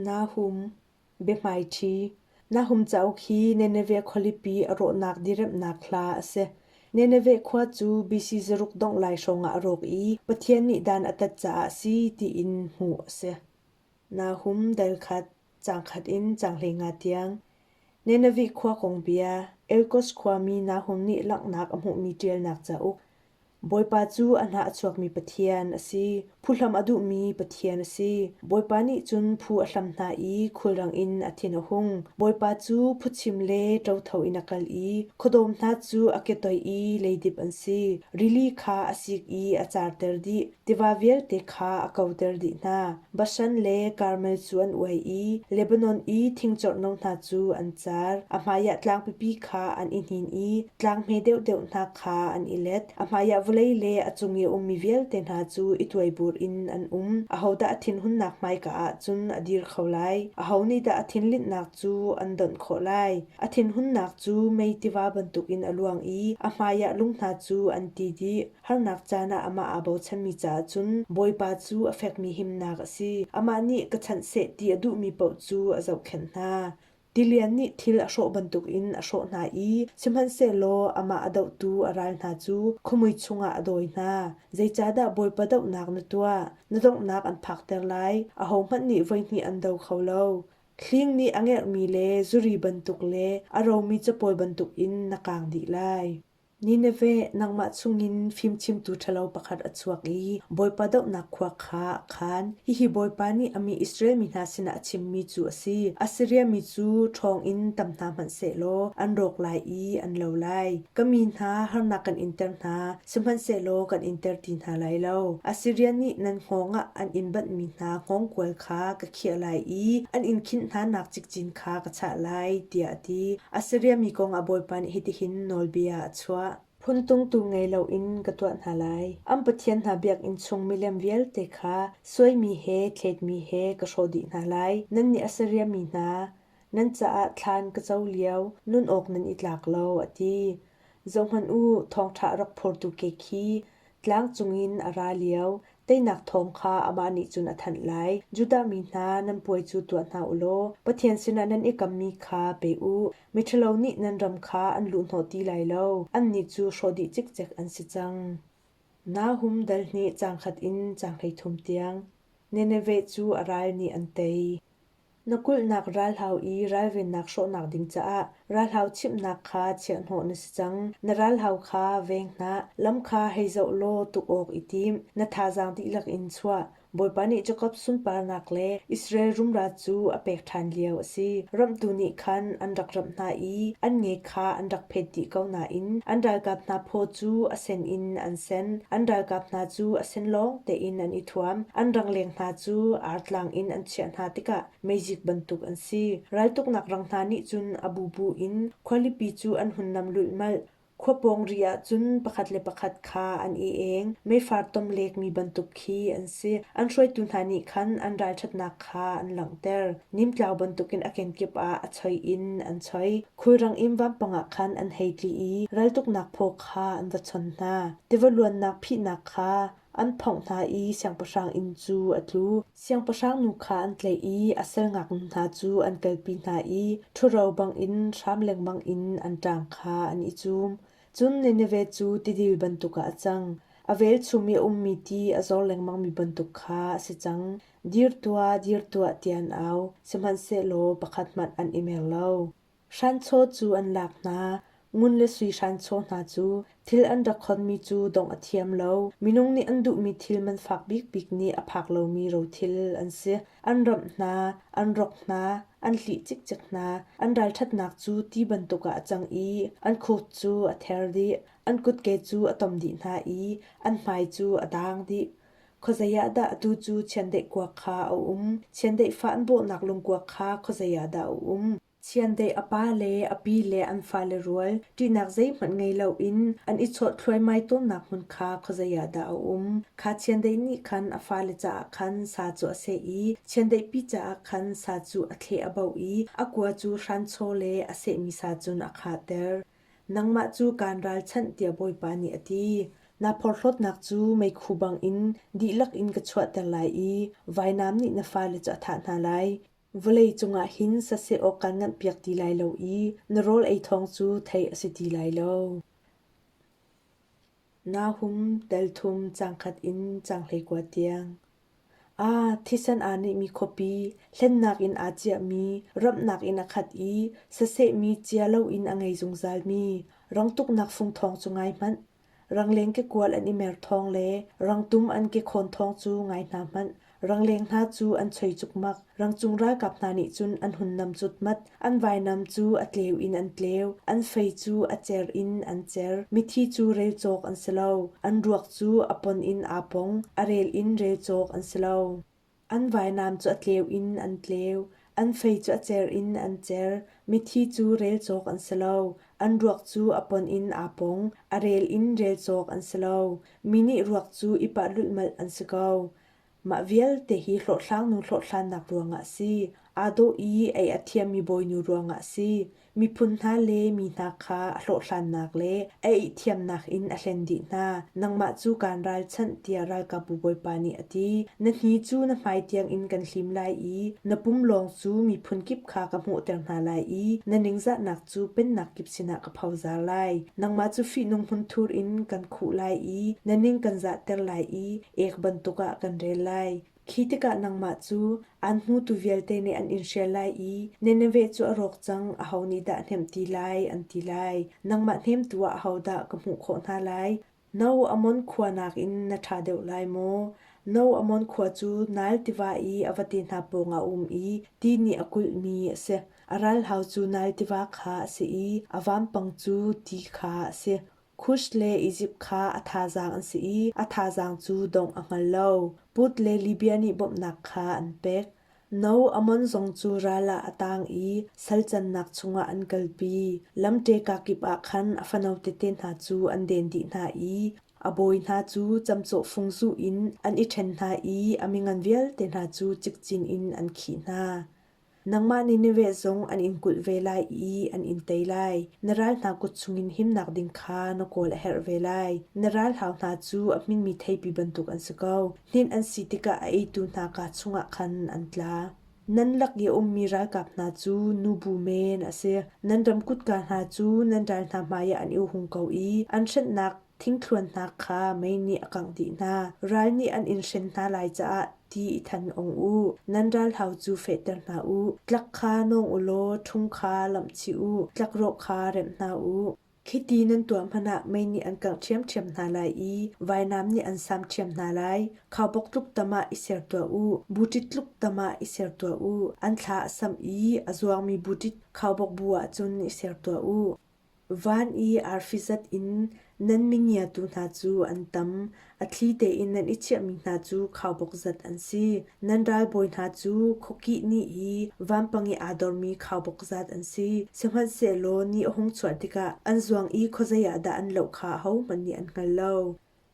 Naa hum, biahmaiṭhi. Na hum cauk hi Nineveh khualipi a rawhnak diriamhnak hla a si. Nineveh khua cu BC zaruk dongh lai hrawng ah a rawk i Pathian nih dan a tat caah a si tiin hmuh a si. Naa hum dalkhat, cangkhat in canghlenga tiang. Nineveh khua kong bia. Elkos khuami Nahum nih langhnak a hmuhmi ṭialnak cauk. Bawipa cu a hna a chuakmi Pathian a si. Phuhlam a duhmi Pathian a si. Bawipa nih cun phu a hlam hna i khulrang in a thin a hung. Bawipa cu phutchim le ṭotho in a kal i khuadawm hna cu a ketoih i leidip an si. Rili kha a sik i a carter dih, tiva vialte kha a koter dih hna. Bashan le Karmel cu an uai i Lebanon i thingcorhno hna cu an car. A hmaiah tlang pipi kha an i hnin i tlang hme deuhdeuh hna kha an i let. A hmaiah vawlei le a cung i a ummi vialte hna cu i tuaibur in an um. Ahodah a thinhunnak hmaika ah cun a dir kho lai? Aho nih dah a thinlinhnak cu an donh khawh lai? A thinhunnak cu mei tiva bantukin a luang i a hmaiah lung hna cu an ti dih. Harnak caan ah amah aa bochanmi caah cun Bawipa cu a fekmi himnak a si. Amah nih ka chanh seh ti a duhmi paoh cu a zohkhenh hna. Tilian nih thil a hrawh bantukin a hrawh hna i sihmanhsehlaw amah a dohtu a ral hna cu khuamui chungah a dawi hna. Zeicahdah Bawipa dohnak na tuah? Na donghnak an phakter lai, ahohmanh nih voihnih an do kho lo. Hling nih a ngerhmi le zuri bantuk le a romi capawi bantukin na kaang dih lai. Nineveh nangmah chungin fimchimtu ṭhalo pakhat a chuak i Bawipa dohnak khua kha a khan. Hihi Bawipa nih a mi Israel mi hna sinah a chimmi cu a si: Assiria mi cu ṭhawng in tam hna hmanhsehlaw an rawk lai i an lo lai. Ka mi hna harnak kan inter hna, sihmanhsehlaw kan inter ti hna lai lo. Assiria nih nan hngawng ah an in banhmi hna hngawngkual kha ka khiah lai i an in khinh hnanak cikcin kha ka chah lai tiah a ti. Assiriami kong a bawipa nih hitihin nawlbia a chuah. Phun tungtu ngei loin ka tuah hna lai. An pathian hna biakinn chung milem vialte kha suaimi he thletmi he ka hrawh dih hna lai. Nannih Assiriami hna, nan caah thlan ka co lio nun awk nan i tlak lo, a ti. Zohhmanh u, thawngṭha a rak phortu ke khi tlang cungin a ra lio teinak thawng kha amah nih cun a thanh lai. Judah mi hna, nan puai cu tuah hna u law Pathian sinah nan i kammi kha pe u. Miṭhalo nih nan ram kha an luhhnawh ti lai lo, annih cu hrawh dih cikcek an si cang. Nahum dal nih cangkhat in canghlei thum tiang Nineveh cu a ral nih an tei. Na kulhnak ralhau i ralvennak hrawhnak ding caah ralhau chimhnak kha chiahhnawh na si cang. Na ralhau kha veng hnah, lam kha hei zoh law tuk awk i tim. Na thazaang dihlak in chuah. Bawipa nih Jakob sunparnak le Israel rumra cu a pek ṭhan lio a si. Ramhtu nih khan an rak ramh hna i an nge kha an rak phet dih ko nain an ralkap hna phaw cu a sen in an sen an ralkap hna cu a sen lawng tein an i thuam an rangleng hna cu artlang in an chiah hna tikah mezik bantuk an si raltuknak rang hna nih cun a bu bu in khualipi cu an hun nam luihmalh khua pawng ri ah cun pakhat le pakhat kha an i eng meifar tom lek mi bantuk khi an si an hruaitu hna nih khan an ralṭhatnak kha an langhter nimtlau bantukin a kenkip ah a choi in an choi khulrang in vampang ah khan an hei tli i raltuknak phaw kha an va chon hna. Tiva luannak phihnak kha an phongh hna i siangpahrang inn cu a tlu. Siangpahrang nu kha an tlaih i a sal ngaknu hna cu an kalpi hna i ṭhuro bangin hram lengmang in an ṭang kha an i cum. Cun Nineveh cu tidil bantuk ah a cang. A velchum i a ummi ti a zor lengmangmi bantuk kha a si cang. dir tuah dir tuah tian au, sihmanhsehlaw pakhat hmanh an i mer lo. Hranchaw cu an lak hna, ngun le sui hranchaw hna cu thil an rak khonmi cu dongh a thiam lo. Minung nih an duhmi thil man fak bikbik nih a phak lomi rothil an si. An ramh hna, an rok hna, an hlih cikcek hna, an ralṭhatnak cu ti bantuk ah a cang i an khuk cu a ther dih, an kutke cu a tom dih hna i an hmai cu a dang dih. Khuazei ah dah atu cu chiandeih kuak kha a um? Chiandeih fa an bawhnak lungkuak kha khuazei ah dah a um? Chiandeih a pa le a pi le an fale rual ṭihnak zeihmanh ngei loin an i chawt thluaimai tawnnak hmun kha khuazei ah dah a um? Kha chiandeih nih khan a fale caah khan sa cu a seh i chiandeihpi caah khan sa cu a thleh a bauh i a kua cu hranchaw le a sehmi sa cun a khahter. Nangmah cu kaan ralchanh, tiah Bawipa nih a ti. Na porhlawtnak cu meikhu bangin dihlak in ka chuahter lai i vainam nih na fale cu a thah hna lai. Vawlei cungah hin saseh awk kaan nganhpiak ti lai lo i na rawl ei thawng cu theih a si ti lai lo. Naa hum telthum cangkhat in canghhlei kua tiang. Aa thisan aa nehmi khuapi hlennak in aa ciahmi ramhnak in a khat i sasehmi cia loin a ngei zungzalmi rangtuknak fung thawng cu ngai hmanh. Rangleng kekual an i mer thawng le rangtum an ke khawn thawng cu ngai hna hmanh. Rangleng hna cu an choi cukmak. Rangcung ralkap hna nih cun an hunnam cutmat. An vainam cu a tleu in an tleu. An fei cu a cer in an cer. Mithi cu rel cawk an si lo. An ruak cu a pon in aa pong. A rel in rel cawk an si lo. An vainam cu a tleu in an tleu. An fei cu a cer in an cer. Mithi cu rel cawk an si lo. An ruak cu a pon in aa pong. A rel in rel cawk an si lo. Mi nih ruak cu i pah lulhmalh an si ko. Mah vialte hi hlawhhlangnu hlawhhlannak ruangah a si. Aa dawh i ei a thiammi bawinu ruangah a si. Miphun hna le mi hna kha a hlawhhlannak le a eihthiamnak in a hlen dih hna. Nangmah cu kaan ralchanh tiah ralkapbu Bawipa nih a ti. Na hni cu na hmai tiangin kan hlim lai i na pum lawng cu miphun kip kha ka hmuhter hna lai i na ningzahnak cu pennak kip sinah ka phozar lai. Nangmah cu fihnung hmunthur in kan khuh lai i na ning kan zahter lai i ek bantuk ah kan rel lai. Khi tikah nangmah cu an hmutu vialte nih an in hrial lai i Nineveh cu a rawk cang, aho nih dah hnemh ti lai, an ti lai. Nangmah hnemtu ah ahodah ka hmuh khawh hna lai? No Ammon khua nakin na ṭha deuh lai maw? No Ammon khua cu Nile tiva i a vate hna pawngah a um i ti nih a kulhmi a si. A ralhau cu Nile tiva kha a si i a vampang cu ti kha a si. Kush le Izipt kha a thazaang an si i a thazaang cu dongh a hngal lo. Put le Libia nih bawmhnak kha an pek. No Ammon zong cu ral ah a tang i salcannak chungah an kalpi. Lamṭeka kip ah khan a fano tete hna cu an den dih hna i a bawi hna cu camcawh fung zuh in an i ṭhen hna i a mingan vialte hna cu cikcin in an khih hna. Nangmah nih niveh zong an in kulh ve lai i an in tei lai. Na ral hna kut chungin himnak ding kha na kawl a herh ve lai. Na ralhau hna cu a hminmi theipi bantuk an si ko. Hlinh an si tikah a eitu hna kaa chungah khan an tla. Nan lak i a ummi ralkap hna cu nubu men a si. Nan ram kutka hna cu nan ral hna hmaiah an i hung ko i an hrenhnak Thingthluan hna kha mei nih a kangh dih hna. Ral nih an in hren hna lai caah ti i than ong u. Nan ralhau cu fehter hna u. Tlak kha nawng u law ṭhung kha lamh chih u. Tlakrawh kha remh hna u. Khiti nan tuah hmanh ah mei nih an kangh ṭhiamṭhiam hna lai i vainam nih an sam ṭhiam hna lai. Khaubok tluk tam ah i ser tuah u. Buṭit tluk tam ah i ser tuah u. An thla a samh i a zuangmi buṭit khaubok bu ah cun i ser tuah u. Van i arfi zat in nan mingiatu hna cu an tam; a thli tein nan i chiahmi hna cu khaubawk zat an si. Nan ralbawi hna cu khuakih ni i vampang i aa dormi khaubawk zat an si; sihmanhsehlaw ni a hung chuah tikah an zuang i khuazei ah dah an loh kha ahohmanh nih an hngal lo.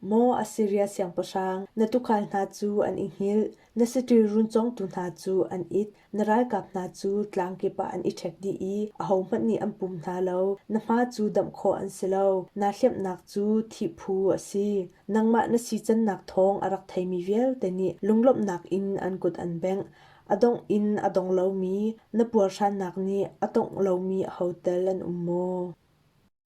Maw Assiria siangpahrang, na tuukhal hna cu an i hngilh, na saṭil run congtu hna cu an it, na ralkap hna cu tlang kip ah an i ṭhek dih i ahohmanh nih an pum hna lo. Na hma cu damh khawh an si lo, naa hlemhnak cu thihphu a si. Nangmah na sicannak thawng a rak theimi vialte nih lunglawmhnak in an kut an bengh. A dongh in a dong lomi na puarhrannak nih a tongh lomi ahotal an um maw?